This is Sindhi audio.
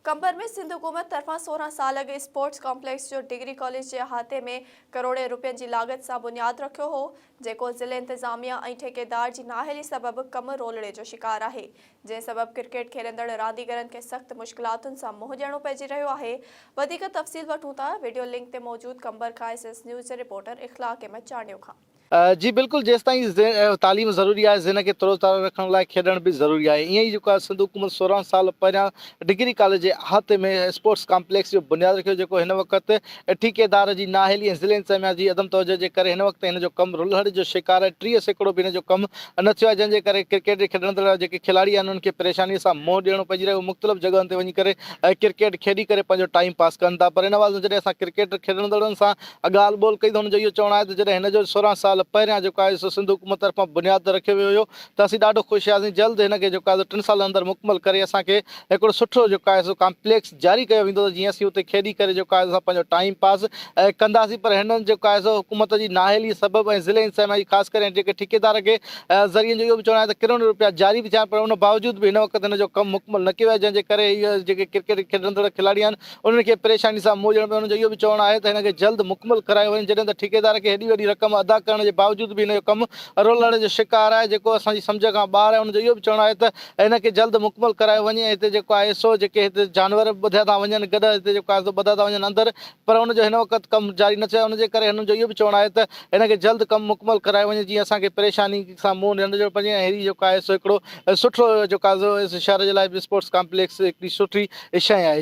قمبر ۾ سنڌ حڪومت طرفان سورهن سال اڳ اسپورٽس ڪامپليڪس جو ڊگري ڪاليج جي احاطي ۾ ڪروڙين روپين جي لاڳت سان بنياد رکيو هو جيڪو ضلعي انتظاميا ۽ ٺيڪيدار جي نااهلي سبب ڪم رولڙي جو شڪار آهي جنهن سبب ڪرڪيٽ کيڏندڙ رانديگرن کي سخت مشڪلاتن سان منهن ڏيڻو پئجي رهيو آهي وڌيڪ تفصيل وٺون ٿا وڊيو لنڪ تي موجود قمبر کان ايس ايس نيوز جي رپورٽر اخلاق احمد چانڊيو کان. جي بلڪل جيستائين تعليم ضروري آهي ذهن کي ترو تازه رکڻ لاء کيڏڻ به ضروري آهي ائين ئي جيڪو آهي سنڌ حڪومت سورهن سال پهريان ڊگري ڪاليج جي احاطي ۾ اسپورٽس ڪامپليڪس جو بنياد رکيو جيڪو هن وقت ٺيڪيدار جي نااهلي ۽ ضلعي انتظاميا جي عدم توجهه جي ڪري هن وقت هن جو ڪم رلهڙ جو شڪار آهي ٽيهه سيڪڙو به هن جو ڪم نه ٿيو آهي جنهن جي ڪري ڪرڪيٽ جي کيڏندڙ جيڪي کلاڙي آهن انهن کي پريشاني سان منهن ڏيڻو پئجي رهيو مختلف جڳهن تي وڃي ڪري ڪرڪيٽ کيڏي ڪري پنهنجو ٽائيم پاس ڪن ٿا پر ان عوض ۾ جڏهن اسان ڪرڪيٽ کيڏندڙن سان ڳالهه ٻولهه ڪئي ته هن جو اهو چوڻ آهي ته جڏهن هن جو سورهن سال پهريان جيڪو آهي سو سنڌ حڪومت طرفان بنياد تي رکيو ويو هيو ته اسين ڏاڍو خوش هياسين جلد هن کي جيڪو آهي سو ٽن سالن اندر مڪمل ڪري اسان کي هڪڙو سٺو جيڪو آهي سو ڪامپليڪس جاري ڪيو ويندو ته جيئن اسين اتي کيڏي ڪري جيڪو آهي اسان پنهنجو ٽائيم پاس ڪنداسين پر هن جيڪو آهي سو حڪومت جي نااهلي سبب ۽ ضلعي انتظاميا جي خاص ڪري ۽ جيڪي ٺيڪيدار کي ذريعن جو اهو به چوڻ آهي ته ڪروڙين رپيا جاري به ٿيا آهن پر ان باوجود به هن وقت هن جو ڪم مڪمل نه ڪيو ويو آهي جنهن جي ڪري هي جيڪي ڪرڪيٽ کيڏندڙ کلاڙي آهن انهن کي پريشاني سان منهن ڏيڻو پيو، انهن جو اهو به چوڻ آهي ته هن کي جلد مڪمل ڪرايو وڃي، جڏهن ته ٺيڪيدار کي هيڏي وڏي رقم ادا ڪرڻ جي باوجود به هن جو ڪم رولڻ جو شڪار آهي، جيڪو اسان جي سمجهه کان ٻاهر آهي، انهن جو اهو به چوڻ آهي ته هن کي جلد مڪمل ڪرايو وڃي ۽ هتي جيڪو آهي سو جيڪي هتي جانور ٻڌيا ٿا وڃن گڏهه هتي جيڪو آهي سو ٻڌا ٿا وڃن اندر پر ان جو هن وقت ڪم جاري نه ٿيو آهي، ان جي ڪري هنن جو اهو به چوڻ آهي ته هن کي جلد ڪم مڪمل ڪرايو وڃي جيئن اسان کي پريشاني سان منهن نه ڏيڻو پوي ۽ هيڏي جيڪو آهي سو هڪڙو سٺو جيڪو آهي سو شهر جي لاء به اسپورٽس ڪامپليڪس هڪڙي سٺي شئي آهي.